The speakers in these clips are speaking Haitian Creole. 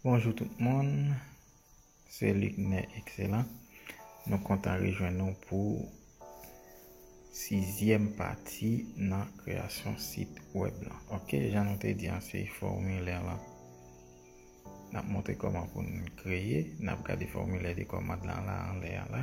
Bonjou tout moun, se Luc Nè Ekselan. Nou kontan rejwenn nou pou sizyèm pati nan kreyasyon sit wèb lan. Ok, jan nou te di an se fòmilè lan. N ap montre kòman pou n kreye, n ap gade fòmilè de kòmand lan la anlè an la.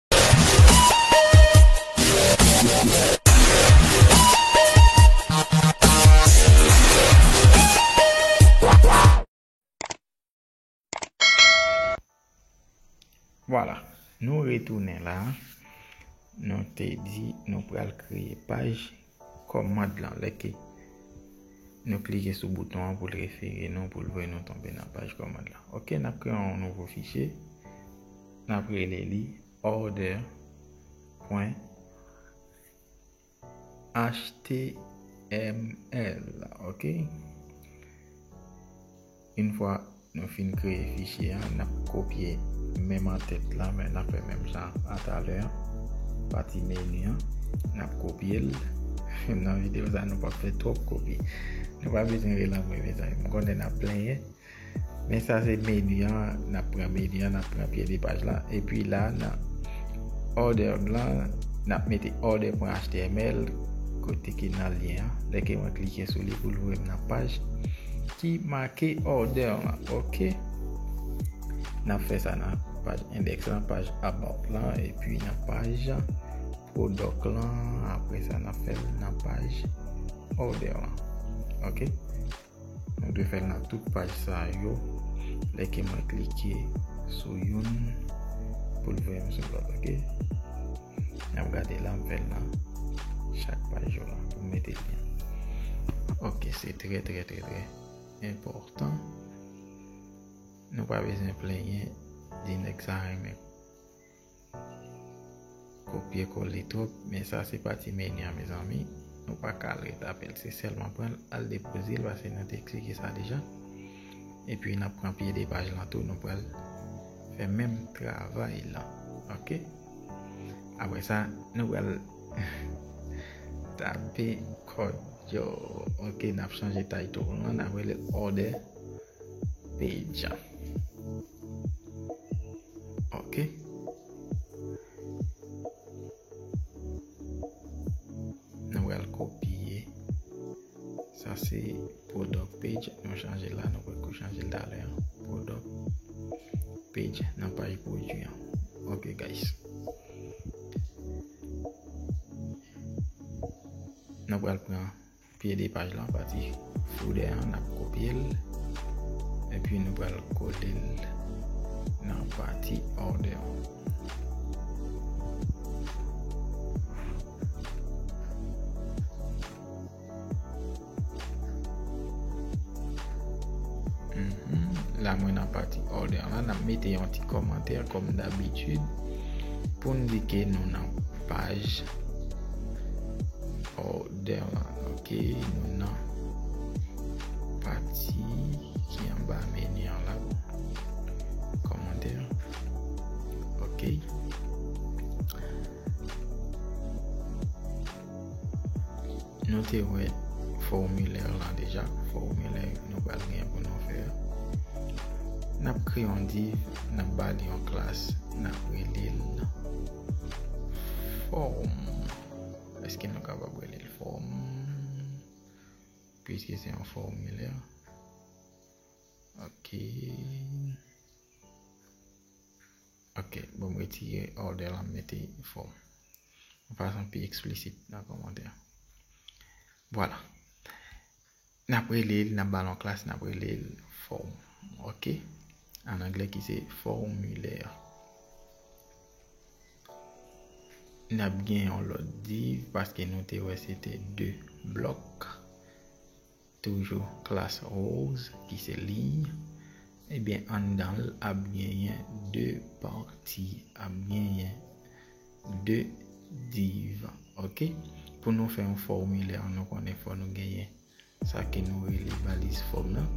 Vwala, nou retounen la, nou te di nou pral kreye paj Kòmand lan, lè ke nou klike sou bouton an pou l refere nou, pou l voye nou tonbe nan paj kòmand lan. Ok, n ap kreye yon nouvo fichye, n ap rele li order pwen html. Ok. Yn fwa nou fin kreye fichye a nap kopye menm antèt la men nap fè menm jan a talè a pati menu an nap kopyel nan video sa nou pap fè twòp kopi nou pa bezwen ri lan mwen mezanmi m konnen nap plenyen men sa se menu an nap pran menu an nap pran pye de paj la epi la nan order lan nap mete order pwen html kote ki nan lyen an lè ke mwen klike sou li poul voyem nan paj. ki make order lan ok nap fè sa nan paj index lan paj about lan epi nan paj product lan apre sa nap fè nan paj order lan ok nou dwe fè nan tout paj sa yo lè ke mwen klike sou youn pou l voye m sou lòt ok. Nap gade lan bel lan. Chak pa jou lan. Pou mete lyen. Ok se tre tre tre tre. Enportan. Nou pa bezyen plenyen. Di nek sa renmen. Kopye kole trop. Men sa se pati meni an mezanmi. Nou pa kal re tapel. Se selman pran al depoze. Lwa se nan te eksplike sa deja. E pi nan pran pye de paj lan tou. Nou pral. Fe menm travay lan. Ok. Apre sa, nou pral tape kòd yo. Ok, n ap chanje title nou an, n ap rele order page. Ok. Nou pral kopye. Sa se product page nou chanje la nou pot ko chanje l talè an product page nan paj pwodwi an ok guys nou pral pran pye de paj lan pati foudè an nap kopye l epi nou pral kole l nan pati order an la mwen nan pati order la nan mete yon ti komantè kom d'habitude pou n di ke nou nan paj order la ok nou nan pati ki an ba menu an la komantè ok Nou te wè fòmilè lan deja, fòmilè nou pral gen pou nou fè. N ap kre yon div, n ap ba li yon klas, n ap rele l fòm. Eske nou kapab rele l fòm? Piske se yon fòmilè. Ok. Ok banm retire order la m mete fo yon fason pi eksplisit nan komantè vwala nap relel nap bal yon klas nap relel form ok an anglè ki se formulaire nap gen yon lot div paske nou te wè se te 2 blok. Toujou klas rose ki se liy. Ebyen anndan l ap genyen 2 pati, ap genyen 2 div ok. Pou nou fè yon fòmilè nou konnen fò nou genyen sa ke nou rele baliz fòm lan.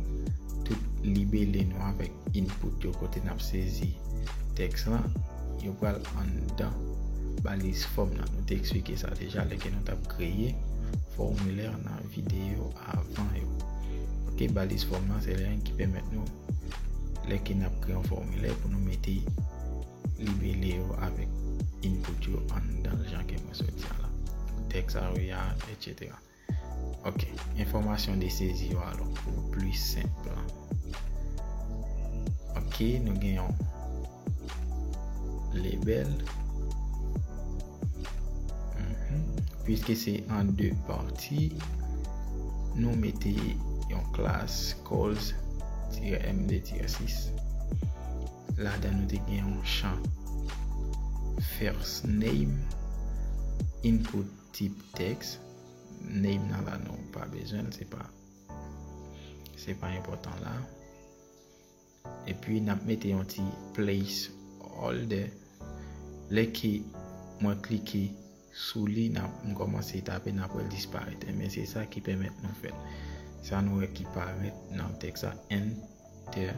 Tout libele nou avèk input yo kote n ap sezi tèks lan yo pral anndan baliz fòm lan. Nou te eksplike sa deja lè ke nou t ap kreye fòmilè nan. Videyo avan yo. Ok baliz fòm lan se len ki pèmèt nou lè ke nap kreye yon fòmilè pou nou mete libele yo avèk input yo anndan jan ke mwen sot di a la. Tèks a yo ya, etc. Ok, enfòmasyon de sezi yo alò pou plis senp lan. Ok, nou gen yon. Lebel. Mhm. Piske se an 2 pati, nou mete yon klas calls-md-6. La dan nou te gen yon chan first name input tip text name nan la nou pa bezwen, se pa se pa enpotan la. Epi nap mete yon ti place holder lè ke mwen klike sou li nap m kòmanse tape nap wèl disparèt enben se sa ki pèmèt nou fèl sa nou wè ki parèt nan tèks la enter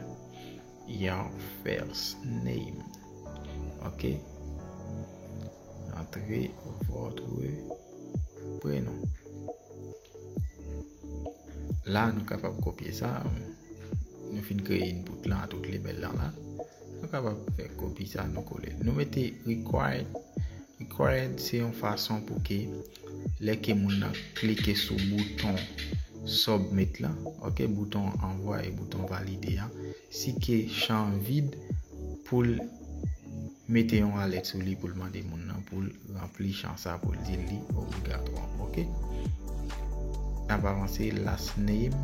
your first name ok. Antre votre prenom. La nou kapab kopye sa. Nou fin kreye input la tout le bel la la. Nou kapab fè kopi sa nou kole. Nou mete required. Required se yon fason pou ke Lè ke moun nan klike sou bouton submit la ok bouton anvwaye bouton valide a si ke chan an vid poul mete yon alèt sou li poul mande moun nan poul ranpli chan sa poul di li obligatwa ok nap avanse last name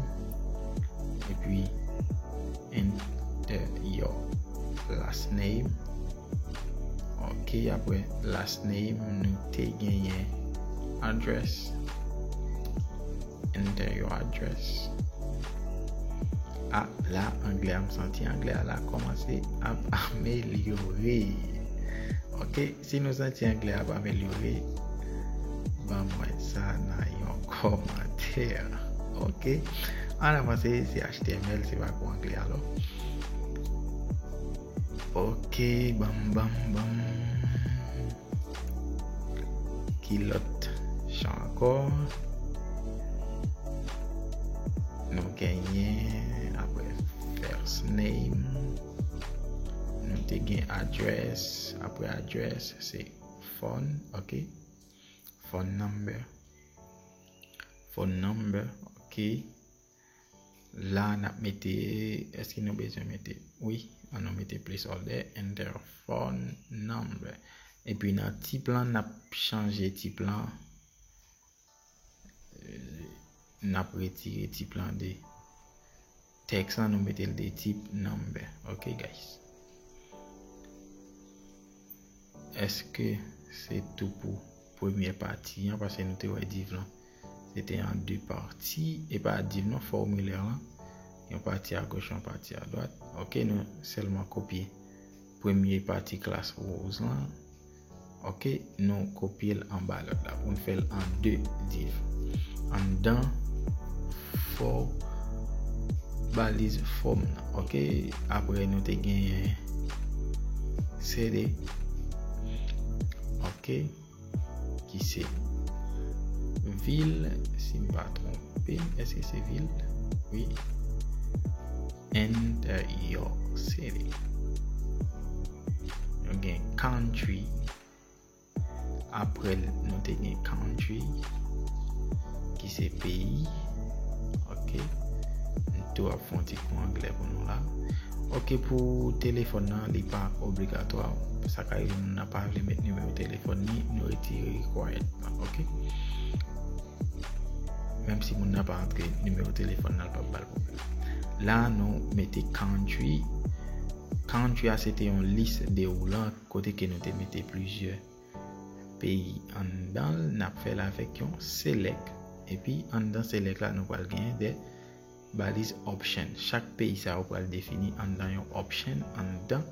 epi enter your last name Ok apre last name nou te genyen address. Enter your address. Ah la anglè am santi anglè a la komanse ap amelyore. Ok si nou santi anglè ap amelyore ban mwen sa nan yon komantè. Ok an avanse se HTML se pa pou anglè alò. Ok bam bam bam Ki lòt chan ankò Nou genyen apre first name Nou te gen address apre address se phone ok Phone number Phone number ok La nap mete, eske nou bezwen mete, wi, an nou mete place order enter phone number. E pi nan tip lan nap chanje tip lan, nap retire tip lan de text lan nou mete l de tip number. Ok guys. Eske se tou pou premyè pati an paske nou te wè div lan se te an 2 pati e pa div non fòmilè lan yon pati a goch yon pati a dwat ok nou sèlman kopye premye pati klas rose lan ok nou kopye l anba lòt la pou n fè l an 2 div anndan fòw baliz fòm nan ok apre nou te genyen CD ok ki se vil si m pa tronpe m eske se vil wi enter your city nou gen country Apre l nou te gen country ki se peyi ok m tou ap fon ti kou anglè pou nou la ok pou telefòn nan li pa obligatwa sa ka rive moun nan pa vle met nimewo telefòn ni nou retire required nan ok menm si moun nan pa antre nimewo telefòn nan l pa bal pwoblèm la nou mete country country a se te yon lis de ou lan Kote ke nou te mete plizyè peyi anndan l, n ap fè l avèk yon select. Epi anndan select la nou pral genyen 2 baliz option. Chak peyi sa yo pral defini anndan yon option anndan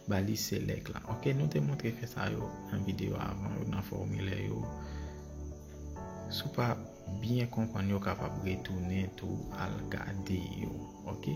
baliz select la. Ok, nou te montre fè sa yo nan videyo avan yo, nan fòmilè yo. Si w pa byen konprann yo, w kapab retounen tou al gade yo. Ok.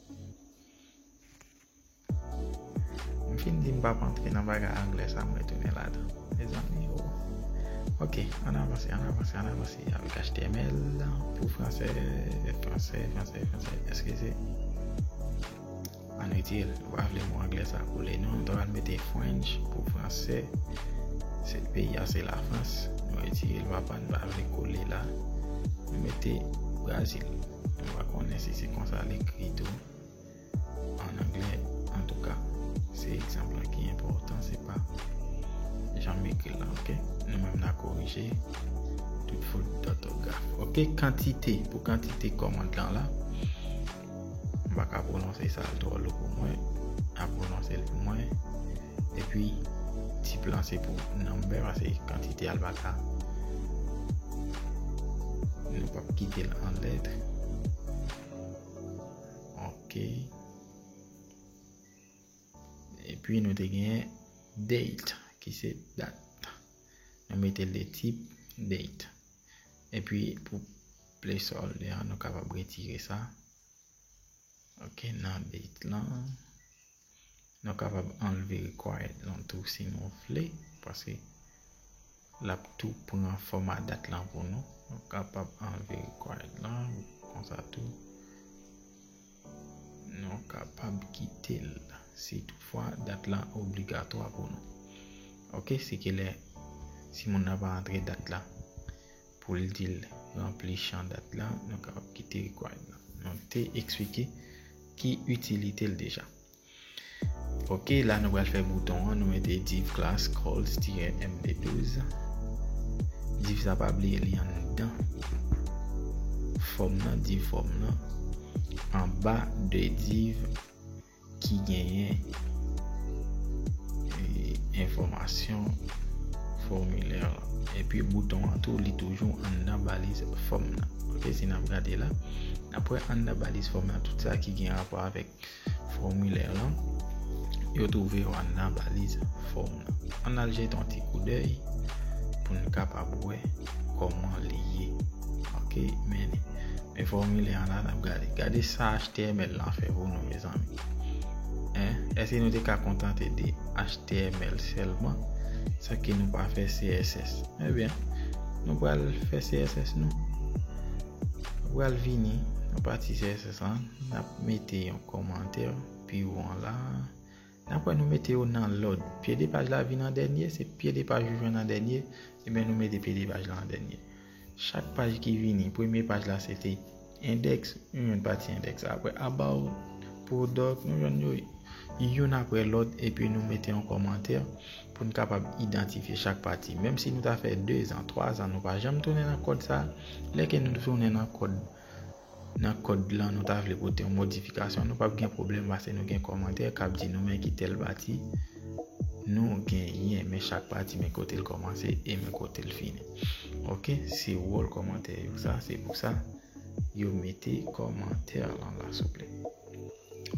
M fin di m pap antre nan bagay anglè sa m retounen ladan mezanmi o Ok ann avanse ann avanse ann avanse avèk html pou fransè fransè fransè fransè eskize ann retire l m pa vle mo anglè sa kole non m ta pral mete french pou fransè se peyi a se lafrans m retire l papa m pa vle kole la m mete brazil Mwen pa konnen si se konsa l ekri tou an anglè. Antouka, se egzanp lan ki enpòtan, se pa jan m ekri l lan. Ok? Nou menm n a korije tout fot dòtograf. Ok, kantite. Pou kantite kòmand lan la, m pa ka pwononse sa, l twò lou pou mwen. N a pwononse l pou mwen. Epi, tip lan se pou number, pase kantite a l pa ka. kite l an letre ok epi nou te gen date ki se dat nou mete le tip date epi pou place all de an nou kapab retire sa ok nan date lan Nou kapab anlve required lan tou si nou vle paske lap tou pran fòma dat lan pou nou. Nou kapab anlve required lan konsa tou. Nou kapab kite l si tout fwa dat lan obligatwa pou nou. Ok, se kilè si moun nan pa antre dat lan. Pou l di l ranpli chan dat la, nou kapab kite required la. Nou te eksplike ki itilite l deja. Ok, la nou pral fè bouton an, nou mete div class calls-md12. Div sa pa bliye li anndan fòm nan, div fòm nan, anba de div ki genyen enfòmasyon fòmilè an. Epi bouton an tou li toujou anndan baliz fòm nan. Ok, si n ap gade la, n ap wè anndan baliz fòm nan tout sa ki gen rapò avèk fòmilè lan, yo twouve yo anndan baliz fòm nan. An n al jete yon ti koudèy pou n kapab wè. kòman li ye ok men li men fòmilè an la nap gade gade sa html lan fè pou nou mezanmi èske nou te ka kontante de html sèlman san ke nou pa fè css ebyen nou pral fè css nou nou pral vini nan pati css lan nap mete yon kòmantè pi ou an la Dapre nou mete yo nan lòd. Pye de paj la vin an dènye, se pye de paj ou jwenn an dènye, enben nou mete pye de paj la an dènye. Chak paj ki vini, premye paj la se te endèks, nou jwenn pati endèks la. Apre about, product, nou jwenn yo youn apre lòt epi nou mete yon kòmantè pou n kapab idantifye chak pati. Menm si nou ta fè dezan, twazan nou pa janm tounen nan kòd sa, lè ke nou tounen nan kòd. nan kòd lan nou ta vle pote yon modifikasyon nou pap gen pwoblèm pase nou gen kòmantè kap di nou men ki tèl pati nou genyen men chak pati men kotel kòmanse e men kotel fini ok se wòl kòmantè yo sa se pou sa yo mete kòmantè lan la souple.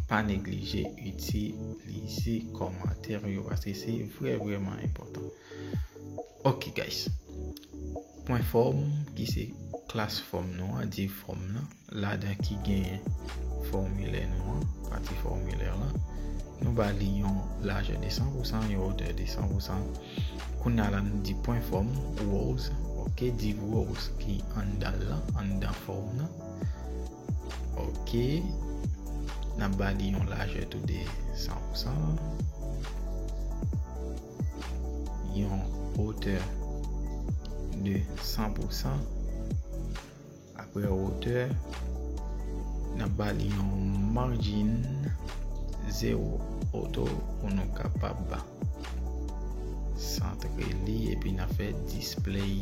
Pa neglije itilize kòmantè nou yo paske se vrè vrèman enpòtan. Ok guys. Pwen fòm ki se klas fòm nou an, div fòm nan, ladan ki genyen fòmilè nou an, pati fòmilè lan. Nou ba li yon lajè 200 pou 100, yon otè 200 pou 100. Kounya la nou di pwen fòm, rows, ok, div rows ki anndan lan, anndan fòm nan. Ok, nap ba li yon lajè tou de 100 pou 100, yon otè de 100 pou 100, apre otè, nap ba li yon margin 0 oto pou nou kapab santre li epi nap fè display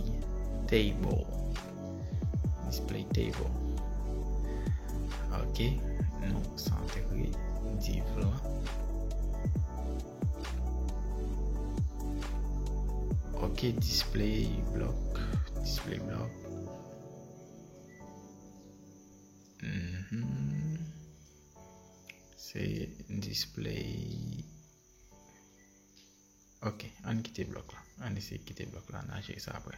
table. display table ok nou santre div lan ok display block display block mm se display ok an kite blok la an ese kite blok la nan je sa apre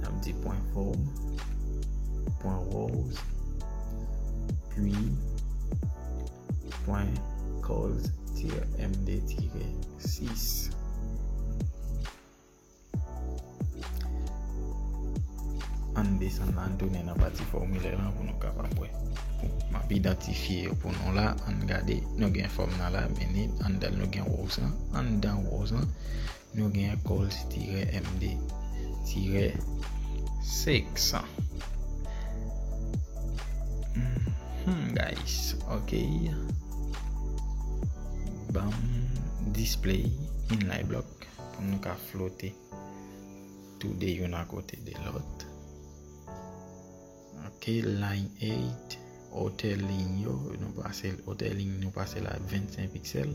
Nap di pwen fò, pwen wòz, pwi, pwen kòz tirè MD tirè 6. Ann desann la, ann tounen nan pati fòmilè lan pou nou kapab wè. Map idantifye yo pou nou la, ann gade, nou gen fòm nan la, meni, anndan nou gen wòz lan, anndan wòz lan. Nou gen Colt tirè MD tirè 500 Humm guys ok Banm display in lay blok pou nou ka flote tou de yon akote de lot Ok line 8 Otè lign yo Nou pase l otè lign nou pase l a 25 pixel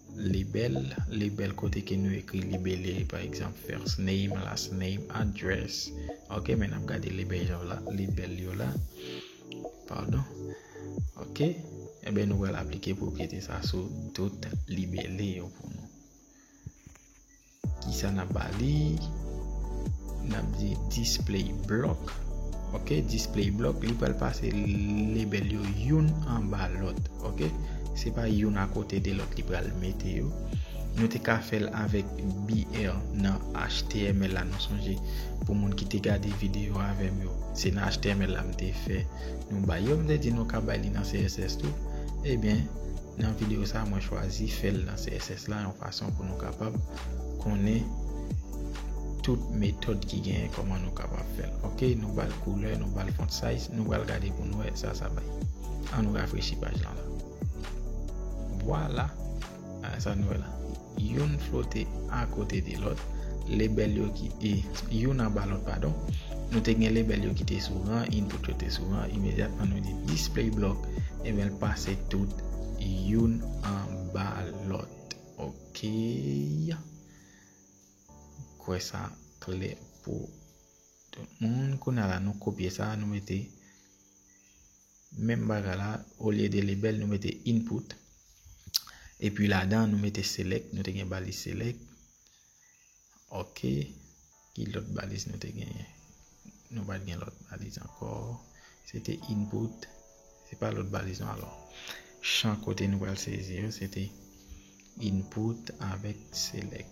Libel, libel kote ke nou ekri libele pa egzanp first name, last name, address ok men nap gade libel yo la, libel yo la pardon ok eben nou pral aplike pwopriyete sa sou tout libele yo pou nou. Kisa nap ba li? Nap di display block. Ok, display block. Li pral pase label yo youn anba lòt. Ok, se pa youn a kote de lòt li pral mete yo. Nou te ka fèl avèk BL nan HTML la nou sonje pou moun ki te gade video avèm yo. Se nan HTML la m te fè nou bay yo. M te di nou ka bay li nan CSS tou. Ebyen, Nan video sa mwen chwazi fèl nan css la yon fason pou nou kapab konnen tout metòd ki genyen kòman nou kapab fèl ok nou bal koulè nou bal font size nou bal gade pou nou wè sa sa bay an nou rafrechi paj lan la vwala sa nou wè la. Youn flote akote de lòt, lebèl yo ki te, youn anba lòt padon, nou te gen lebèl yo ki te sou ran, input yo te sou ran, imedyatman nou di display block, ebyen l pase tout youn anba lòt. Ok. M kwè sa klè pou tout moun. Kounye a la nou kopye sa, nou mete Menm bagay la olye de lebel nou mete input epi ladan nou mete select nou te gen baliz select ok ki lot baliz nou te genyen nou pat gen lot baliz anko se te input se pa lot baliz nou alò chan kote nou pral sezi yo se te input avek select.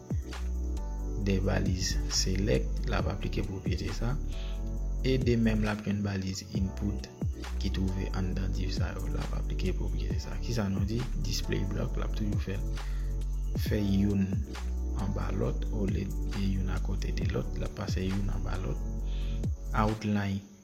2 baliz select lap aplike pwopyete sa e de menm lap jwenn baliz input ki twouve anndan div sa yo lap aplike pwopyete sa ki sa nou di display block lap toujou fè fè youn anba lòt olye de youn akote de lòt lap pase youn anba lòt outline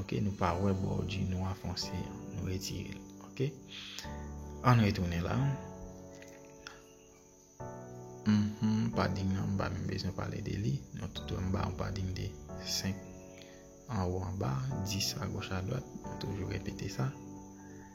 Ok nou pa wè bò di nwa fonse an nou retirel ok ann retounen la mph padding nan mpa menm bezwen pale de li nou tout wè mba yon padding de 5 anwo anba 10 agoch adwat mwen toujou repete sa.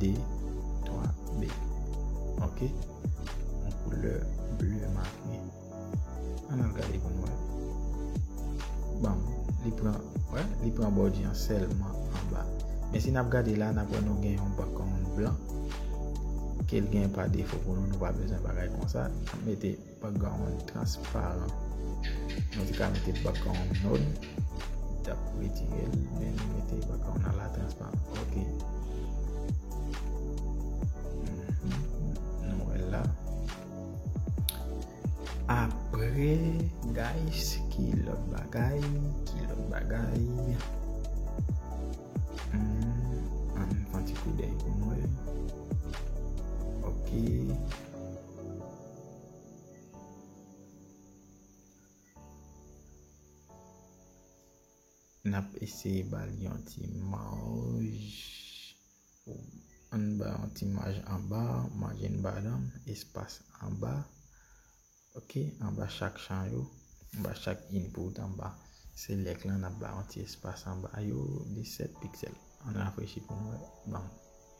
2, 3, B. Ok. Yon koulè bleu marqué. An nan gade pou nou. Bon, li pran, wè, li pran body an sèlman an ba. Men si nap gade la, nap wè nou gen yon background blan. Kel gen pa defo pou nou, nou pa bezwen bagay konsa. Mete. Background transparan. Mwen te ka mete background nod. Mwen tap retire l. Men mwen mete background ala transparan. Ok. Nou wè la. Apre guys. Ki lòt bagay. Ki lòt bagay. An mwen fanti kou dey pou mwen. Ok. Ok. Nap eseye bal yon ti maj anba yon ti maj anba maj anba dan espas anba ok anba chak chan yo anba chak input anba select lan nap bay yon ti espas anba yo de 7 pixel an rafrechi pou nou wè banm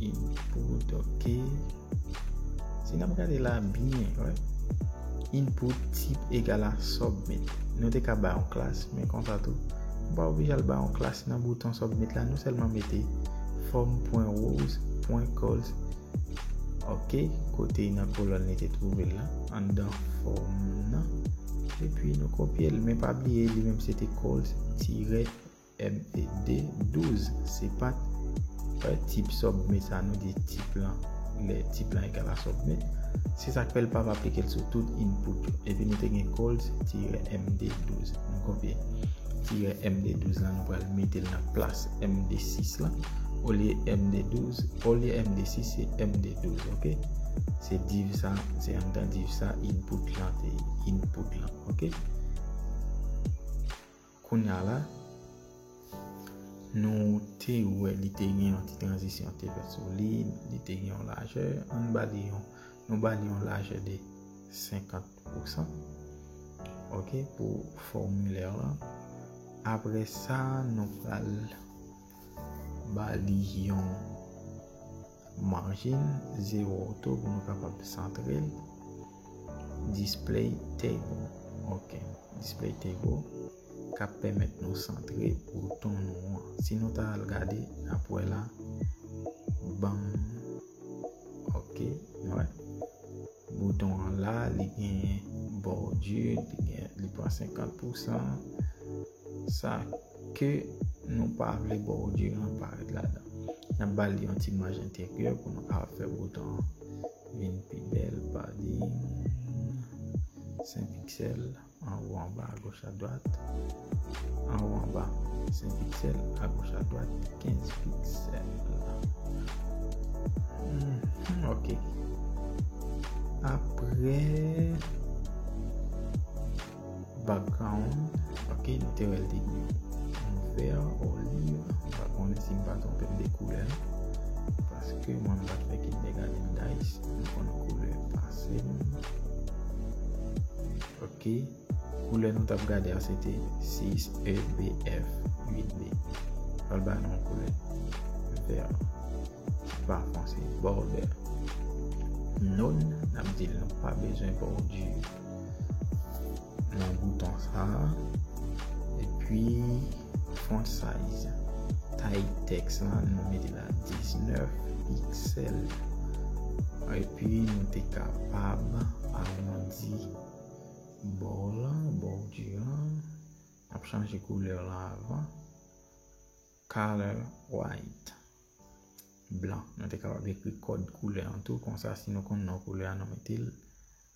Input ok Si nap gade la byen Input tip egal a submit Nou te ka bay yon klas men konsa tou Nou pa oblije al bay yon klas nan bouton submit la Nou sèlman mete form.rows pwen colls ok kote nan kolòn li te twouve la anndan form nan epi nou kopye l men pa bliye li menm se te colls tirè MED 12 se pat tip submit sa nou di tip lan lè tip lan egal a submit se sak fè l pap aplike l sou tout input yo epi nou te gen calls tirè md 12 nou kopye tirè md 12 lan nou pral mete l nan plas md 6 lan olye md 12 olye md 6 se md 12 ok se div sa se anndan div sa input lan te input lan ok. Kounya la, nou te wè li te gen yon ti tranzisyon te fèt sou li, li te gen yon lajè, an ba li yon, nou ba li yon lajè de 50 pousan, ok, pou formilè lan. Apre sa, nou pral. Ba li yon margin 0 auto pou nou kapab santre l. Display table. Ok. Display table. Kap pèmèt nou santre bouton nou an. Si nou ta al gade apwè la. Banm. Ok. Wè. Bouton an la. Li gen bordure. Li gen. Li pran 50%. Sa. Ke nou pa vle Bordye an parèt ladan. N ap ba li yon ti maj enteryè pou nou ka fè bouton an vin pi bèl. Padding 5 piksèl, anwo, anba, agoch, adwat. Anwo, anba, 5 piksèl, agoch, adwat, 15 piksèl. Ok. Apre. Background ok nou te wèl te gou vert olive mwen pa konnen si mwen pa twonpe m de koulè paske mwen m pat fè kindergarten guys m konn koulè ase ok koulè nou tap gade a se te 6 e b f 8 b pral ba nou koulè vert pa fonse border non nap di l nou pa bezwen bordir nan bouton sa epi font size tay teks la nou mete la 19 pixel epi nou te kapab agrandi bò la bò di an ap chanje koulè la avan color white blan nou te kapab ekri kòd koulè an tou konsa si nou konn nan koulè an nou mete l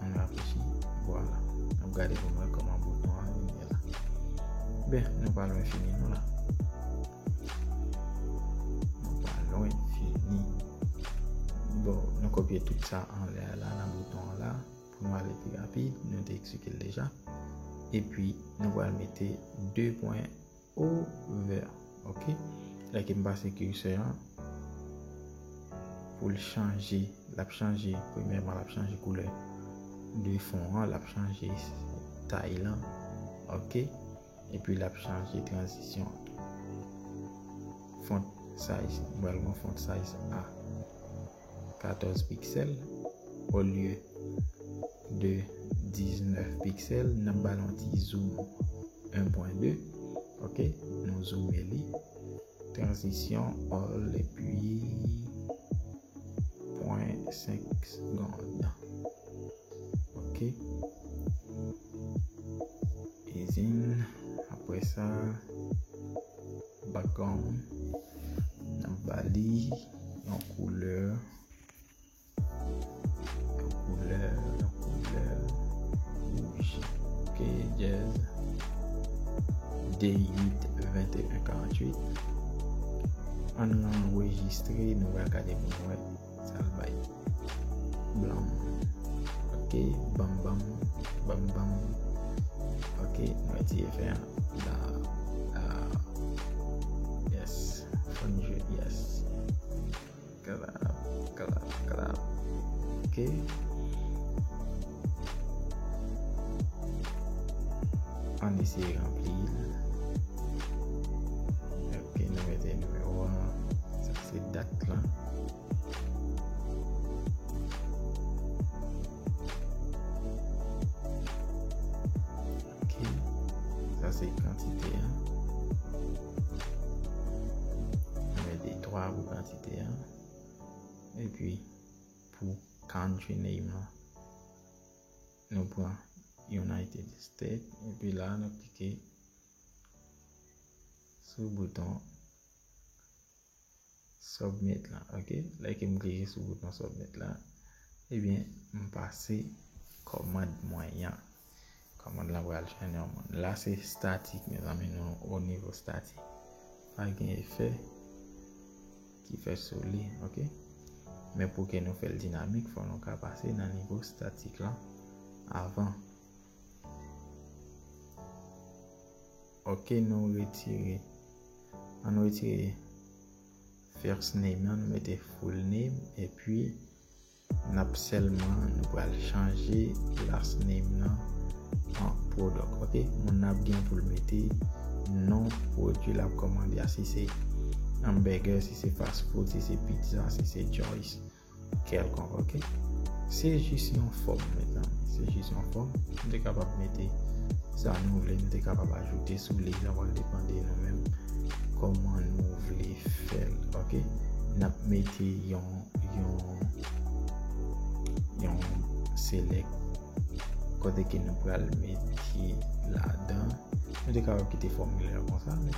Mwen rafichi. Vwala. Mwen gade pou mwen koman bouton an yon yon la. Be, nou pa lwen fini nou la. Nou pa lwen fini. Bon, nou kopye tout sa an lè la nan bouton an la. Pou mwen ale pi rapid, nou te eksike l deja. E pi, nou wale mete 2 pwen. Over ok lè kem pase curseur an poul chanje lap chanje premyèman lap chanje koulè de fon an lap chanje tay lan ok epi lap chanje tranzisyon font size mwen al nan font size a. 14 piksèl olye de 19 piksèl n ap ba l yon ti zoom 1.2 ok nou zoome li tranzisyon all epi pwen 5 segond ok e zin apre sa Background nan bali yon couleur yon couleur yon couleur rouge ok jazz day 8 21 48 an enregistre nou va gade pou nou wè Sa l bay blan m. Ok, ban m ban m, ban m ban m. Ok, mwen ti efè an. La, la. Yes, fon jwe, yes. Kalap, kalap, kalap. Ok. Ann eseye ranpli l. Ok, nou mete nimewo an. Sa se dat lan. Ok, sa se kantite an. Nou mete 3 pou kantite an. E pi. pou country name lan. Nou pran United State epi la nou klike sou bouton submit la ok lè ke m klike sou bouton submit la ebyen m pase kòmand mwen yan. Komand lan pral chèn yon moun. La se statik mezanmi nou o nivo statik. Pa gen efè ki fè sou li. Ok. Men pou ke nou fèl dinamik fò nou ka pase nan nivo statik lan avan. Ok nou retire. An nou retire first name nan nou mete full name. E pi Nap selman nou pral chanje last name nan an product ok moun nan ap gen poul mete non produit lap komande a si se hamburger si se fast food si se pizza si se joyce kelkonk ok se jis yon fom mezanmi se jis yon fom nou te kapab mete sa nou vle nou te kapab ajoute sou li sa pral depan de nou menm koman nou vle fel ok nap mete yon yon select kote ke nou pral met ki la dan nou te kapab kite formule la konsa men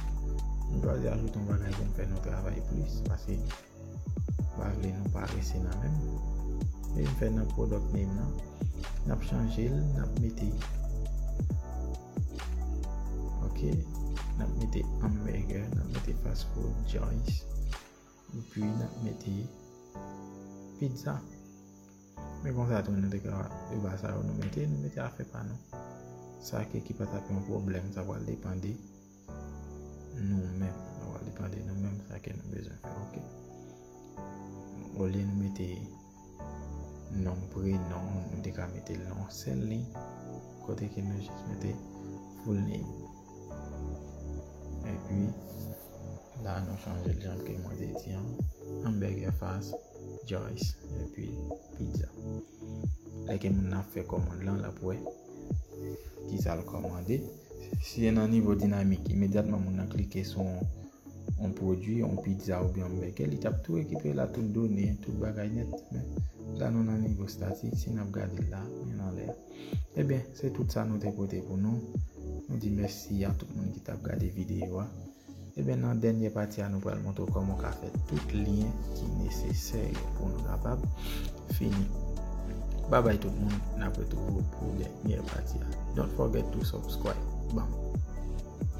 nou pral di ajoute yon bagay pou nou fè nou travay plis pase pa vle nou pa rese nan men men nou fè nan product name nan n ap chanje l n ap mete ok n ap mete hamburger n ap mete fast food joints Epi nap mete pizza. Men konsa tou nou te ka e ba sa yo nou mete, nou mete afe pa nou. Sa ke ki pa tap yon pwoblèm, sa pral depan de nou menm. Sa pral depan de nou menm sa ke nou bezwen fè ok. Olye nou mete. Nom prenom nou te ka mete l nan yon sèl liy kote ke nou jis mete full name. Epi la nou chanje l jan ke mwen te di an. Hamburger fast, Joyce, epi pizza. Lè ke moun nan fè kòmand lan lap wè ki sa l kòmande. Si se nan nivo dinamik imedyatman moun nan klike sou yon pwodui, yon pizza oubyen yon bègè, li tap tou rekipere la tout done, tout bagay nèt. Men, la nou nan nivo statik, si nap gade l la, men nan lè. Ebyen, eh se tout sa nou te pote pou nou. Nou di mèsi a tout moun ki tap gade videyo a. Ebyen, eh nan dènyè pati a nou pral montre w kòman w ka fè tout lyen ki nesesè yo pou nou kapab fini. Babay tout moun, nap retrouve w pou dènyè pati a. Don't forget to subscribe. Bam!